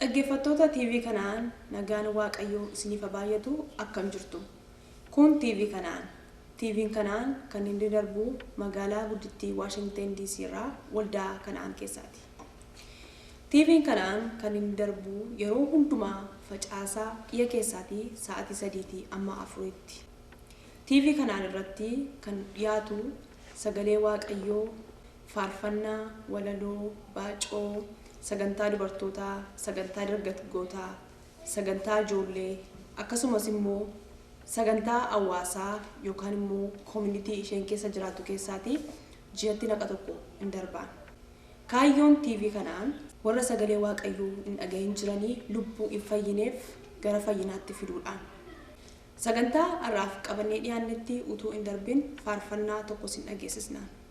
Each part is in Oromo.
Dhaggeeffattoota TV Kana'aan nagaan Waaqayyoo isiniif haa baay'atu akkam jirtu? Kun TV Kana'aan. TVn Kana'aan kan inni darbu magaalaa guddittii Waashingten DC irraa waldaa Kana'aan keessaati. TVn Kana'aan kan inni darbu yeroo hundumaa facaasaa dhiya keessaatii sa'aatii sadiitii amma afuriitti. TV Kana'aan irratti kan dhiyaatu sagalee Waaqayyoo Faarfannaa, walaloo, baacoo, sagantaa dubartootaa, sagantaa dargatgootaa, sagantaa ijoollee akkasumas immoo sagantaa hawaasaa yookaan immoo community isheen keessa jiraattu keessaatii ji'atti naqa tokko in darbaan. Kaayyoon TV kanaa. Warra sagalee Waaqayyoo hin dhagahin jiranii lubbuu hin fayyineef gara fayyinaatti fiduudhaan. Sagantaa har'aaf qabannee dhiyaannetti utuu hin darbin faarfannaa tokko sin dhageessisna.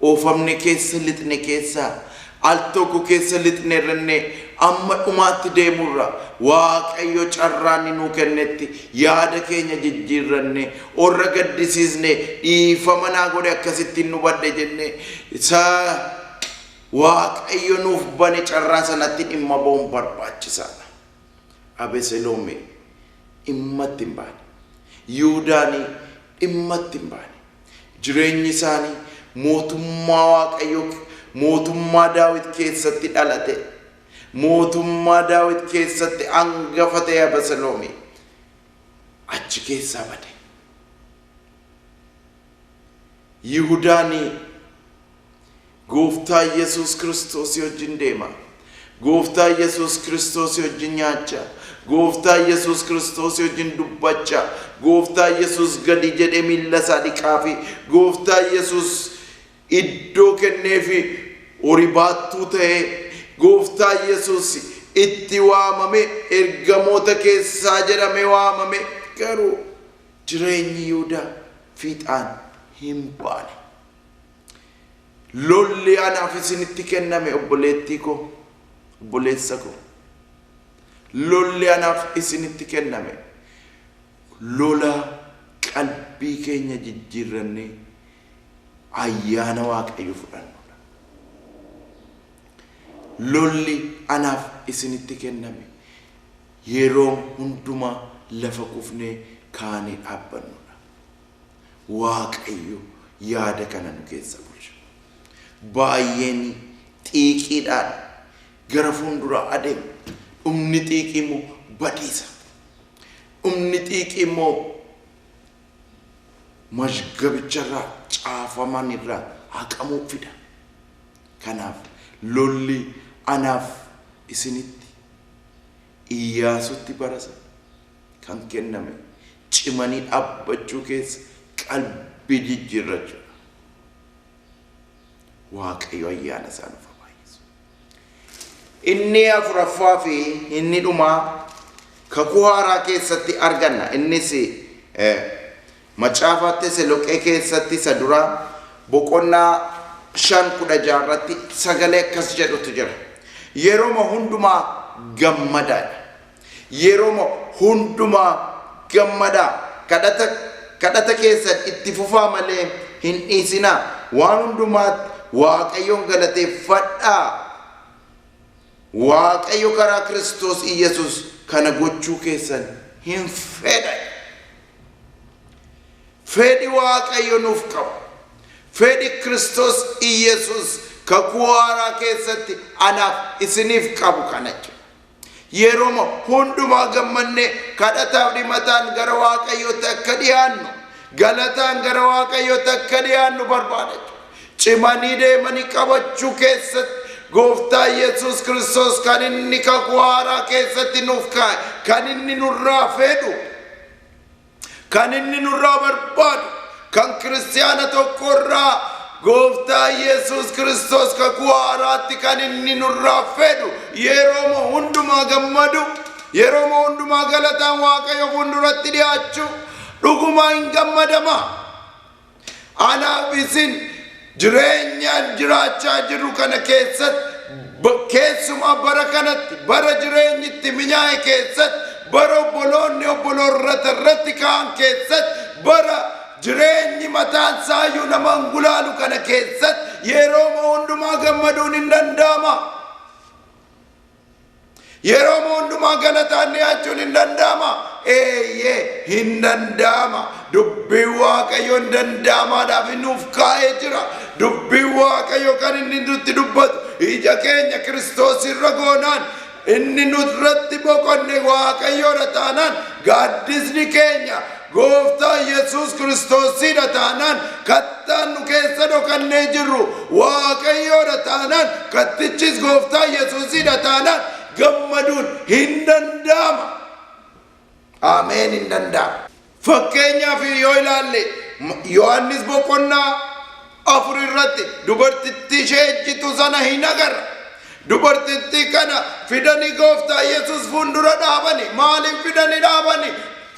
Oofamne keessa lixne keessa al tokko keessa lixnerranne amma dhumaatti deemurra waaqayyo carraanni nuu kennetti yaada keenya jijjiirranne orra gaddisiisne dhiifama naa godhe akkasitti hin hubadhe jenne isa waaqayyo nuuf bane carraa sanatti dhimma ba'uun barbaachisaadha. Abeseloomi dhimmatti hin baane. Yihudaani dhimmatti hin baane. Jireenyi isaanii mootummaa Waaqayyoo, mootummaa Daawit keessatti dhalate, mootummaa Daawit keessatti angafa ta'e Abasaloomi achi keessaa bade. Yihudaan Gooftaa Yesuus Kiristoosii wajjin deemaa. Gooftaa Yesuus Kiristoosii wajjin nyaachaa. Gooftaa Yesuus Kiristoosii wajjin dubbachaa. Gooftaa Yesuus gadi jedhee miilla isaa dhiqaafii. Gooftaa Yesuus iddoo kenneefi horii baattuu ta'ee. Gooftaa Yesuus itti waamamee ergamoota keessaa jedhamee waamamee. Garuu jireenyi Yihudaa fiixaan hin baane. Lolli anaaf isinitti kenname obboleettii koo, obboleessa koo. Lolli anaaf isinitti kenname lola qalbii keenya jijjiirrannee ayyaana Waaqayyo fudhannudha. Lolli anaaf isinitti kenname yeroo hundumaa lafa kufnee kaanee dhaabbannudha. Waaqayyo yaada kana nu keessa bulcha. Baay'een xiiqiidhaan gara fuulduraa adeemu. Dhumni xiiqii immoo badiisa. Dhumni xiiqii immoo mazgabicharraa caafamanirraa haqamuu fida. Kanaaf lolli anaaf isinitti Iyyaasutti barasa. kan kenname cimanii dhaabbachuu keessa qalbii jijjiirrachuudha. Waaqayyo ayyaana isaa nuuf haa baay'isu. Inni afuraffaa fi inni dhumaa kakuu haaraa keessatti arganna. Innis eh, macaafa Teseloqee keessatti isa duraa boqonnaa shan kudha ja'a irratti sagalee akkas jedhutu jira. Yeroma hundumaa gammadaa jedha. Yeroma hundumaa gammadaa. Kadhata kadhata keessan itti fufaa malee hin dhiisinaa. Waan hundumaatti Waaqayyoon galateeffadhaa. Waaqayyo karaa Kiristoos Iyyasuus kana gochuu keessan hin fedha. Fedhi Waaqayyo nuuf qabu. Fedhi Kiristoos Iyyasuus kakuu haaraa keessatti anaaf isiniif qabu kana jechuudha. Yeroma hundumaa gammannee kadhataaf dhimataan gara Waaqayyootti akka dhiyaannu, galataan gara Waaqayyootti akka dhiyaannu barbaada. Cimanii deemanii qabachuu keessatti Gooftaa Yesuus Kiristoos kan inni kakuu haaraa keessatti nuuf kaa'e, kan inni nurraa fedhu Kan inni nurraa barbaadu, kan kiristiyaana tokko irraa Gooftaa Yesuus Kiristoos kakuu haaraatti kan inni nurraa fedhu yerooma hundumaa gammadu, yerooma hundumaa galataan Waaqayyo fuulduratti dhiyaachuu dhugumaa hin gammadama. Anaaf isin jireenyaan jiraachaa jirru kana keessatti ba- keessumaa bara kanatti bara jireenyi itti minyaa'e keessatti bara obboloonni obboloorrata irratti ka'an keessatti bara jireenyi mataan saayyuu nama hin gulaalu kana keessatti yerooma hundumaa gammaduun hin danda'ama. Yeroo hundumaa galataan dhiyaachuun hin danda'ama. Eeyyee hin danda'ama. Dubbiin Waaqayyoo hin danda'amaadhaaf inni nuuf kaa'ee jira. Dubbiin Waaqayyoo kan inni nutti dubbatu ija keenya Kiristoos irra goonaan inni nurratti boqonne Waaqayyoodha taanaan gaaddisni keenya Gooftaa Yesuus Kiristoosiidha taanaan kattaan nu keessa dhokannee jirru Waaqayyoodha taanaan kattichis Gooftaa Yesuusiidha taanaan gammaduun hin danda'ama. Ameen hin danda'ama. Fakkeenyaaf yoo ilaalle Yohaannis boqonnaa afur irratti dubartittii ishee ejjitu sana hin agarra. Dubartittii kana fidanii gooftaa Yesuus fuuldura dhaabani. Maaliif fidanii dhaabani?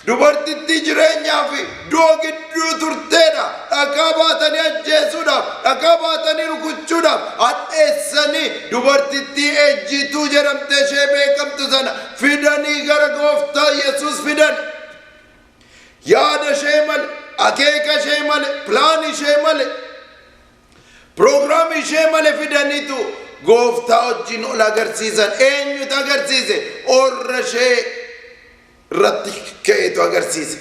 Dubartittii jireenyaa fi du'a gidduu turteedha. Dhagaa baatanii ajjeesuudhaaf, dhagaa baatanii rukuchuudhaaf, hadheessanii dubartittii ejjituu jedhamtee ishee beekamtu sana fidanii gara gooftaa Yesuus fidan. Yaada ishee male, akeeka ishee male, pilaani ishee male, piroogiraamii ishee male fidaniitu gooftaa wajjin ol agarsiisan. Eenyutu agarsiise? Orra ishee irratti ka'eetu agarsiise.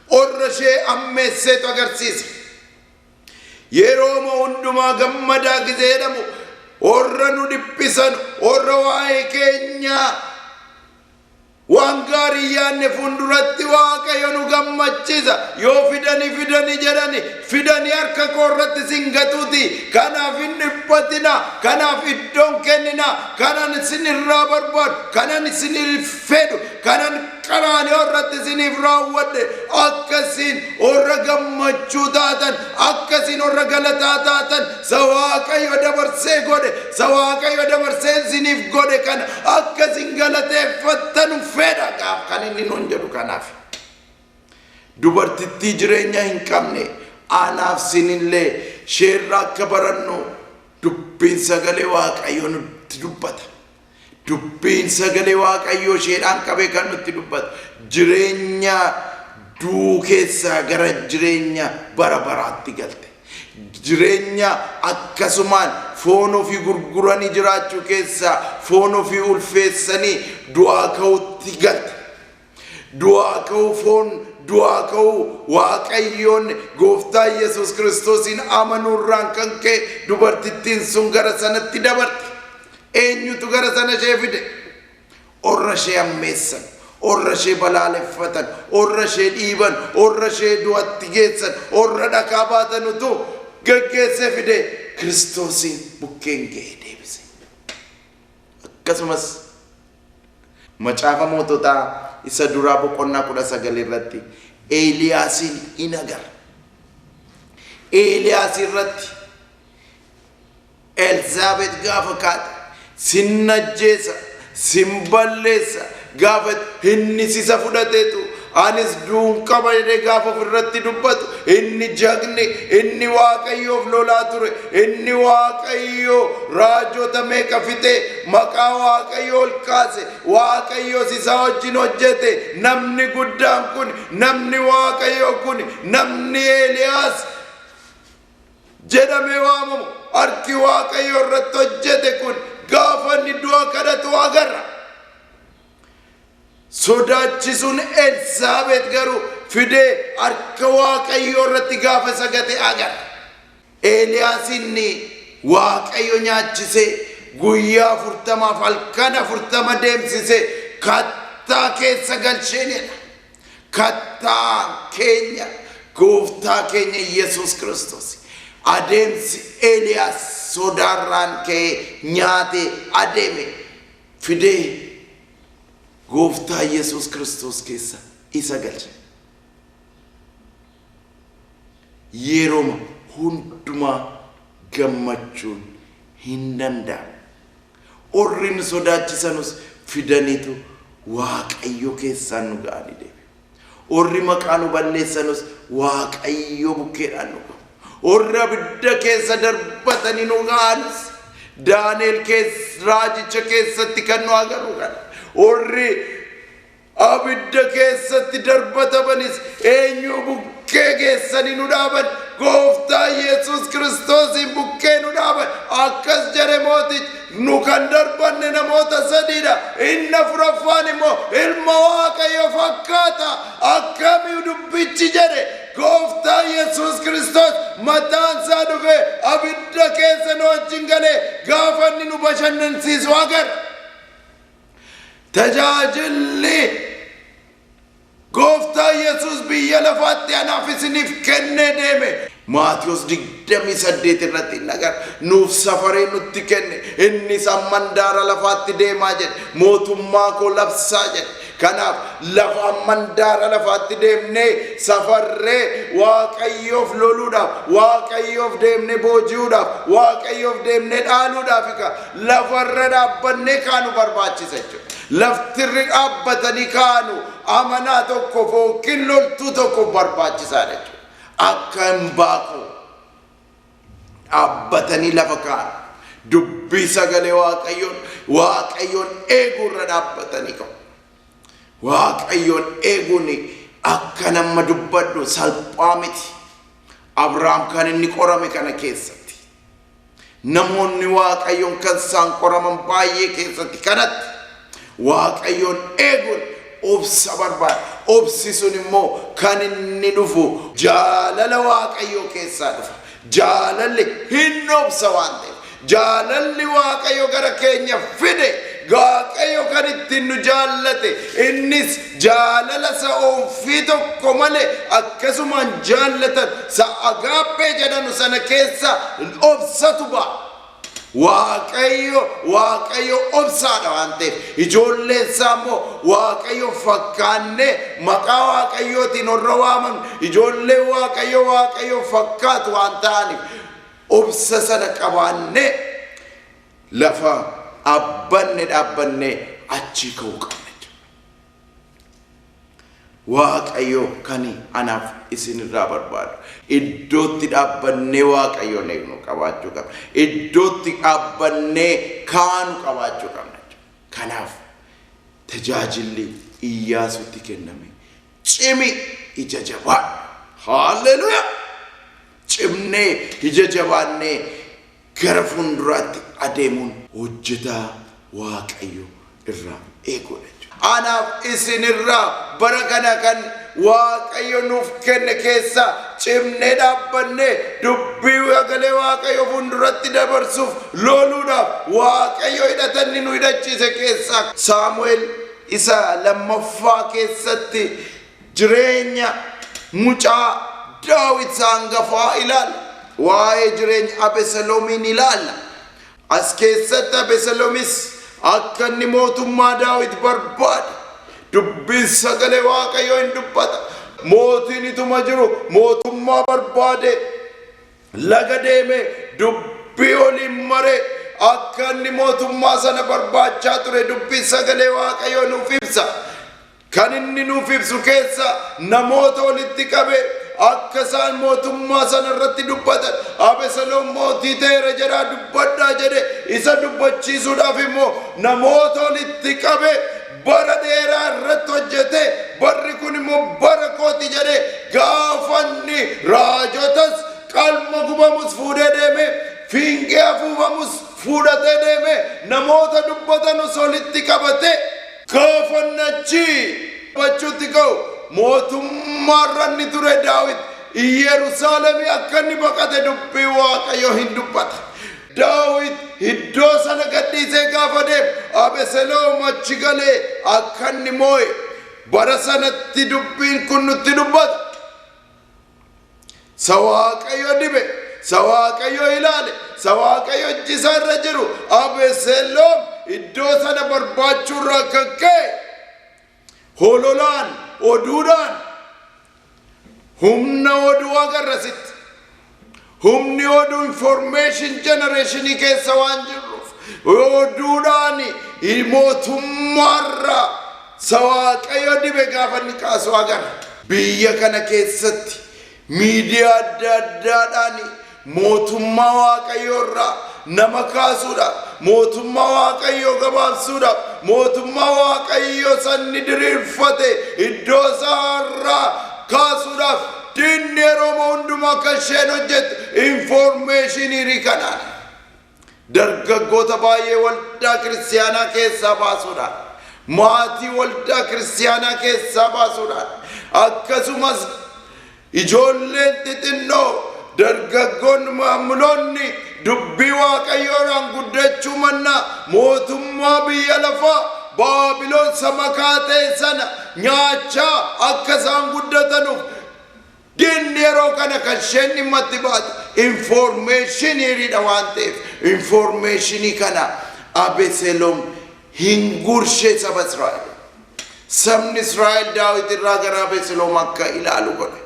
Orra ishee ammeesseetu agarsiise. Yeroo moo hundumaa gammadaa gizee jedhamu orra nu dhiphisan, orra waa'ee keenyaa Waan gaarii yaanne funduratti Waaqayyo nu gammachisa. Yoo fidani fidani jedhani fidani harka koo irratti sin gatuti. Kanaaf hin dhiphatina. Kanaaf iddoon kennina. Kanan isin irraa barbaadu, kanan isiniif fedhu, kanan qaraaniyoo irratti isiniif raawwadhe akka isin warra gammachuu taatan, akka isin warra galataa taatan Isa Waaqayyo dabarsee godhe, isa Waaqayyo dabarsee isiniif godhe kana akka isin galateeffattanu fedha gaaf kan inni nuun jedhu kanaaf. Dubartittii jireenya hin qabne anaaf sinillee sheerra akka barannu dubbiin sagalee Waaqayyo nutti dubbata. Dubbiin sagalee Waaqayyoo isheedhaan qabee kan nutti dubbatu jireenya du'uu keessaa gara jireenya bara baraatti galte. Jireenya akkasumaan foon ofii gurguranii jiraachuu keessaa foon ofii ulfeessanii du'aa ka'utti galte. Du'aa ka'uu foon du'aa ka'uu Waaqayyoon gooftaa Yesuus Kiristoosiin amanuurraan kan ka'e dubartittiin sun gara sanatti dabarte. Eenyutu gara sana ishee fide? Orra ishee ammeessan, orra ishee balaaleffatan, orra ishee dhiiban, orra ishee du'atti geessan, orra dhakaa baatan utuu geggeessee fide Kiristoosiin bukkeen ga'ee deebise. Akkasumas Macaafa Moototaa isa duraa boqonnaa 19 irratti Eeliyaasiin in agarra. Eeliyaas irratti Elsaabeet gaafa kaate sin ajjeesa, sin balleessa gaafa inni sisa fudhateetu Anis du'uun qaba jedhee gaafa ofirratti dubbatu inni jagni inni waaqayyoof lolaa ture inni waaqayyoo raajota meeqa fixee maqaa waaqayyoo ol kaase waaqayyoos isaa wajjin hojjete namni guddaan kun namni waaqayyoo kun namni Eeliyaas jedhamee waamamu harki waaqayyoo irratti hojjete kun gaafa inni du'a kadhatu agarra. Sodaachisuun Elsaabeet garuu fidee harka Waaqayyoo irratti gaafa isa gate agarra. Eeliyaas inni Waaqayyo nyaachisee guyyaa afurtamaaf halkan afurtama deemsisee kattaa keessa galcheenidha. Kattaan keenya gooftaa keenya Yesuus Kiristoos. Adeemsi Eeliyaas sodaarraan ka'ee nyaatee adeeme. fidee gooftaa Yesuus Kiristoos keessa isa galche. Yeroma hundumaa gammachuun hin danda'amu. Orrin sodaachisanus fidaniitu Waaqayyo keessaan nu ga'anii deebi'u. Orri maqaa nu balleessanus Waaqayyo bukkeedhaan nu ga'u. Orri abidda keessa darbatanii nu ga'anis Daani'el keessa raajicha keessatti kan nu agarru kana. Orri abidda keessatti darbatamanis eenyu bukkee keessanii nu dhaaban gooftaa Yesuus Kiristoosiin bukkee nu dhaaban akkas jedhe mootichi Nu kan darbanne namoota sadiidha. Inni afuraffaan immoo ilma Waaqayyo fakkaata. Akkami dubbichi jedhe gooftaa Yesuus Kiristoos mataan isaa dhufee abidda keessa nu wajjin galee gaafa inni nu bashannansiisu agarra. Tajaajilli Gooftaa Yesuus biyya lafaatti anaaf isiniif kennee deeme. Maatiwos 28 irratti hin agarra. Nuuf safaree nutti kenne. Innis amma handaara lafaatti deemaa jedhe. Mootummaa koo labsaa jedhe. Kanaaf lafa amma handaara lafaatti deemnee safarree Waaqayyoof loluudhaaf, Waaqayyoof deemnee booji'uudhaaf, Waaqayyoof deemnee dhaaluudhaaf lafarra dhaabbannee kaanu barbaachisa jechuudha. Lafti irri dhaabbatanii kaanu amanaa tokkoof yookiin loltuu tokkoof barbaachisaadha jechuudha. Akka hin baaquu dhaabbatanii lafa kaa'an. Dubbii sagalee Waaqayyoon Waaqayyoon eeguu irra dhaabbatanii qabu. Waaqayyoon eeguun akka nama dubbadhu salphaa miti. Abrahaam kan inni qorame kana keessatti. Namoonni Waaqayyoon kan isaan qoraman baay'ee keessatti kanatti Waaqayyoon eeguun obsa barbaada. Obsi sun immoo kan inni dhufu jaalala Waaqayyoo keessaa dhufa. Jaalalli hin obsa waan ta'eef. Jaalalli Waaqayyo gara keenya fide Waaqayyo kan ittiin nu jaallate innis jaalala sa offii tokko male akkasumaan jaallatan sa agaaphee jedhanu sana keessa obsatu ba'a. Waaqayyo Waaqayyo obsaadha waan ta'eef ijoolleen isaa immoo Waaqayyo fakkaannee maqaa Waaqayyootiin warra waamamne ijoolleen Waaqayyo Waaqayyo fakkaatu waan ta'aniif obsa sana qabaannee lafa abbanne dhaabbannee achii ka'uu qabna. Waaqayyo kani anaaf isin irraa barbaadu iddootti dhaabbannee waaqayyoon eegnu qabaachuu qabna. Iddootti dhaabbannee kaanu qabaachuu qabna. Kanaaf tajaajilli Iyyaasuutti kenname cimi ija jabaa. Haalleluuyaa! Cimnee ija jabaannee gara fuunduraatti adeemuun hojjetaa Waaqayyo irraa eeguudha jechuudha. Anaaf isin irraa bara kana kan Waaqayyo nuuf kenne keessa cimnee dhaabbannee dubbii sagalee Waaqayyo fuunduratti dabarsuuf looluudhaaf Waaqayyo hidhatanni nu hidhachiise keessaa Saamu'eel isa lammaffaa keessatti Jireenya mucaa Daawit isa hangafaa ilaalla. Waa'ee jireenya Abeseloomiin ilaalla. As keessatti Abeseloomis akka inni mootummaa Daawit barbaade dubbiin sagalee Waaqayyoo in dubbata. Mootiin ituma jiru mootummaa barbaade laga deeme dubbii waliin mare akka inni mootummaa sana barbaachaa ture dubbii sagalee Waaqayyoo nuuf ibsa. Kan inni nuuf ibsu keessaa namoota walitti qabee akka isaan mootummaa sana irratti dubbatan Abeseloom mootii ta'eera jedhaa dubbadhaa jedhe isa dubbachiisuudhaaf immoo namoota walitti qabee bara dheeraa irratti hojjetee barri kun immoo bara kooti jedhe gaafanni raajotas qalma gubamus fuudhee deeme fiingee afuufamus fuudhatee deeme namoota dubbatanus walitti qabatee Gaafannachi bachuutti ka'u mootummaarra inni ture Daawit Iyyeerusaalemii akka inni baqate dubbii Waaqayyo hin dubbata. Daawit iddoo sana gadhiisee gaafa deemu Abeseloom achi galee akka inni moo'e bara sanatti dubbiin kun nutti dubbata. Sa Waaqayyo dibe, sa Waaqayyo ilaale, sa Waaqayyo ijji isaa irra jiru Abeseloom iddoo sana barbaachuu irraa kan ka'e hololaan, oduudhaan humna oduu agarrasitti. Humni oduu information generation keessa waan jirruuf oduudhaan mootummaarraa sa waaqayyo dibe gaafa inni kaasu agarra. Biyya kana keessatti miidiyaa adda addaadhaan mootummaa waaqayyoo irraa nama kaasuudhaaf mootummaa waaqayyoo gabaabsuudhaaf mootummaa waaqayyoo sanni diriirfate iddoo isaa irraa kaasuudhaaf Diinni Oromoo hundumaa akka isheen hojjettu infoormeeshiniirii kanaan dargaggoota baay'ee waldaa kiristiyaanaa keessaa baasuudhaan maatii waldaa kiristiyaanaa keessaa baasuudhaan akkasumas ijoolleen xixinnoo dargaggoonni maamiloonni Dubbii Waaqayyoodhaan guddachuu mannaa, mootummaa biyya lafaa Baabilon isa makaa ta'e sana nyaachaa akka isaan guddatanuuf diinni yeroo kana kan isheen dhimma itti baate infoormeeshiniidha waan ta'eef infoormeeshinii kana Abeseloom hin gurshe saba Israa'el. Sabni Israa'el Daawit irraa gara Abeseloom akka ilaalu godhe.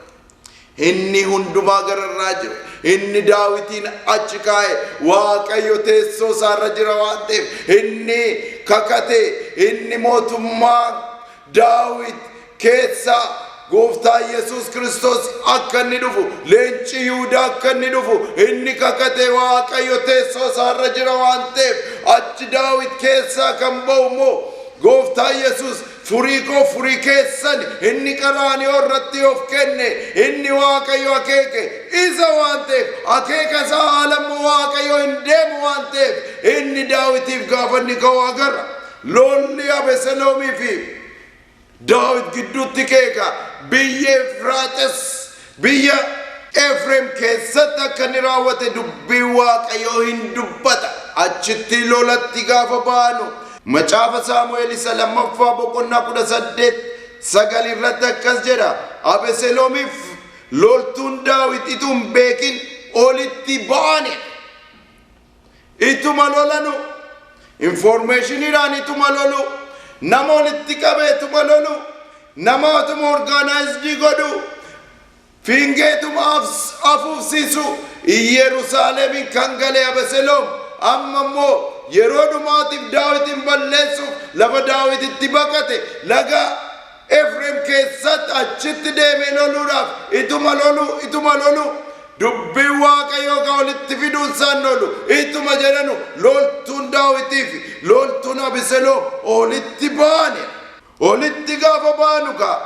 Inni hundumaa gararraa jiru, inni daawitiin achi kaa'e, Waaqayyo teessoo isaarra jira waan ta'eef, inni kakate, inni mootummaa daawit keessa gooftaa Yesuus Kiristoos akka inni dhufu, leenci Yihudaa akka inni dhufu, inni kakate Waaqayyo teessoo isaarra jira waan ta'eef, achi daawit keessaa kan ba'u immoo gooftaa Yesuus Furii koo furii keessani. Inni qaraaniyoo irratti of kenne, inni Waaqayyo akeeke isa waan ta'eef, akeeka isaa haala immoo Waaqayyo hin deemu waan ta'eef, inni Daawitiif gaafa inni ka'u agarra. Lolli Abeseloomii fi Daawit gidduutti ka'e egaa biyya Efraaxes Biyya Efreem keessatti akka inni raawwate dubbiin Waaqayyoo hin dubbata. Achitti lolatti gaafa baanu Macaafa Saamu'eel isa lammaffaa boqonnaa kudha saddeet sagal irratti akkas jedha. Abeseloomiif loltuun Daawit ituu hin beekin olitti ba'ane. ituma lolanu informeeshiniidhaan ituma lolu nama walitti qabee ituma lolu nama atuma orgaanaayizidii godhu fiingeetuma afuufsiisu Iyyerusaalemin kan gale Abeseloom amma immoo yeroo dhumaatiif daawitin balleessuuf lafa daawititti baqate laga Efreem keessatti achitti deebi'ee loluudhaaf ituma loluu, ituma loluu, dubbii Waaqayyoo ka walitti fiduun isaan lolu ituma jedhanu loltuun Daawitii fi loltuun Abiseloom olitti baane. Olitti gaafa baanu kaa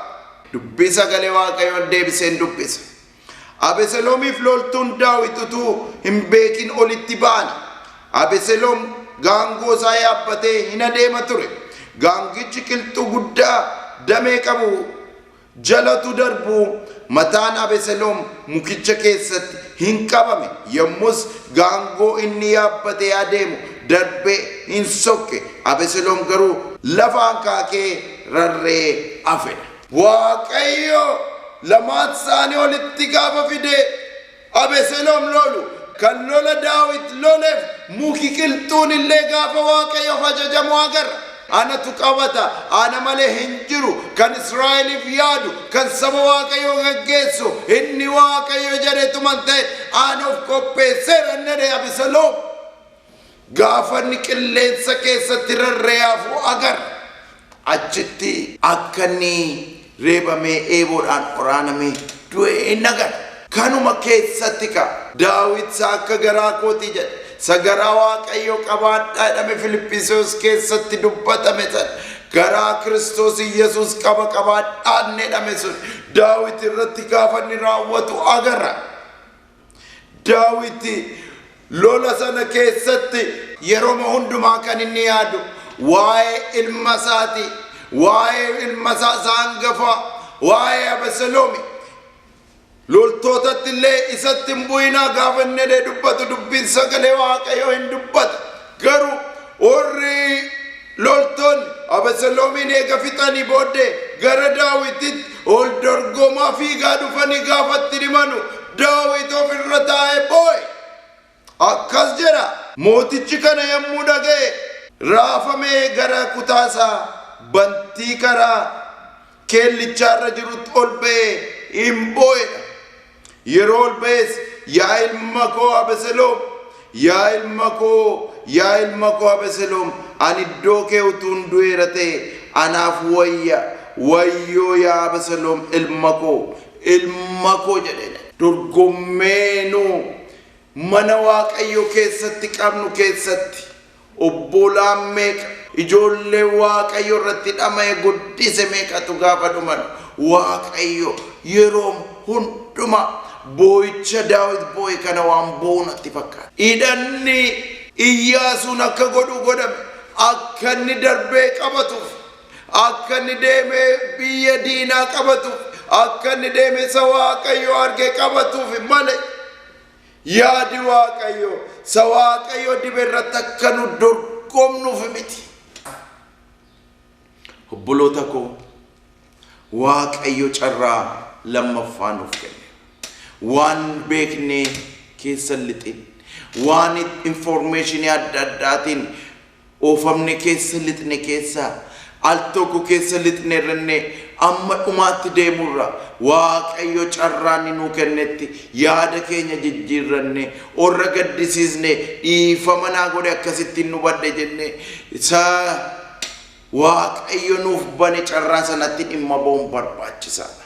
dubbii sagalee Waaqayyoon deebiseen dubbisa. Abeseloomiif loltuun Daawit utuu hin beekin olitti ba'an. Abeseloom gaangoo isaa yaabbatee hin adeema ture. Gaangichi qilxuu guddaa damee qabu jala utuu darbuu mataan Abeseloom mukicha keessatti hin qabame. Yommus gaangoo inni yaabbatee adeemu darbee hin sokke. Abeseloom garuu lafa hankaakee rarree hafe. Waaqayyo lamaan isaanii olitti gaafa fide Abeseloom lolu kan lola Daawit loleef muki qilxuun illee gaafa Waaqayyoof ajajamu agarra. Anatu qabata, ana malee hin jiru, kan Israa'eliif yaadu, kan saba Waaqayyoo gaggeessu, inni Waaqayyo jedhetuman ta'e, an of qopheesseera inni jedhe Abeseloom. Gaafa inni qilleensa keessatti rarra'ee hafu agarra. Achitti akka inni reebamee eeboodhaan waraanamee du'e in agarra. Kanuma keessatti ka, Daawit isa akka garaa kootii jedhe, isa garaa Waaqayyoo qabaadhaa jedhame Filiphisiyos keessatti dubbatame sana, garaa Kiristoos Yesuus qaba qabaadhaa inni jedhame sun Daawit irratti gaafa inni raawwatu agarra. Daawiti lola sana keessatti. yeroma hundumaa kan inni yaadu waa'ee ilma isaati. Waa'ee ilma isaa isa hangafaa, waa'ee Abeseloomi. Loltootatti illee isatti hin bu'inaa gaafa inni jedhee dubbatu dubbiin sagalee waaqayyoo hin dubbata. Garuu warri loltoonni Abeseloomiin eega fixanii booddee gara Daawititti ol dorgomaa fiigaa dhufanii gaafa itti dhimanu Daawit of irra taa'ee boo'e. Akkas jedha. Mootichi kana yommuu dhaga'e raafamee gara kutaa isaa bantii karaa keellichaa irra jirutti ol ba'ee in boo'e dha. Yeroo ol ba'es, Yaa ilma koo Abeseloom! Yaa ilma koo, yaa ilma koo Abeseloom! Ani iddoo kee utuun du'eera ta'e anaaf wayya! Wayyoo yaa Abeseloom ilma koo, ilma koo! jedheen. Dorgommee nu mana Waaqayyoo keessatti qabnu keessatti. Obboolaan meeqa, ijoollee Waaqayyo irratti dhama'e guddise meeqatu gaafa dhuman Waaqayyo yeroom hundumaa boo'icha Daawit boo'e kana waan boo'u natti fakkaata. Hidhanni Iyyaasuun akka godhu godhame akka inni darbee qabatuuf, akka inni deemee biyya diinaa qabatuuf, akka inni deemee isa Waaqayyo arge qabatuuf malee Yaadi Waaqayyo isa Waaqayyo dibe irratti akka nu dorgomnuuf miti. Obboloota koo Waaqayyo carraa lammaffaa nuuf kenne. Waan beeknee keessa lixin, waan informeeshinii adda addaatiin Oofamne keessa lixne keessa al tokko keessa lixnerranne amma dhumaatti deemurra waaqayyo carraa inni nuu kennetti yaada keenya jijjiirranne orra gaddisiisne dhiifama naa godhe akkasitti hin hubadhe jenne isa waaqayyo nuuf bane carraa sanatti dhimma ba'uun barbaachisaadha.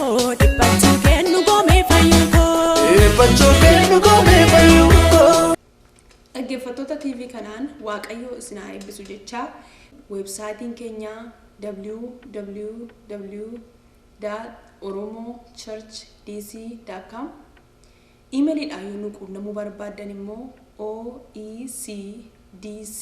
Dhiphachuu kee nu goomee fayyuu koo. Dhiphachuu kee nu goomee fayyuu koo. Dhaggeeffattoota TV kanaan Waaqayyoo isin haa eebbisu jechaa weebsaayitiin keenya www.oromochurchdc.com Iimeliidhaan yoo nu quunnamuu barbaaddan immoo oecdc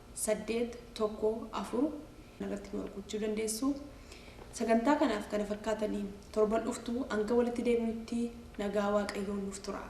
8 1 4 irratti nu argachuu dandeessu. Sagantaa kanaaf kana fakkaataniin torban dhuftu hanga walitti deebinutti nagaa Waaqayyoo nuuf turaa.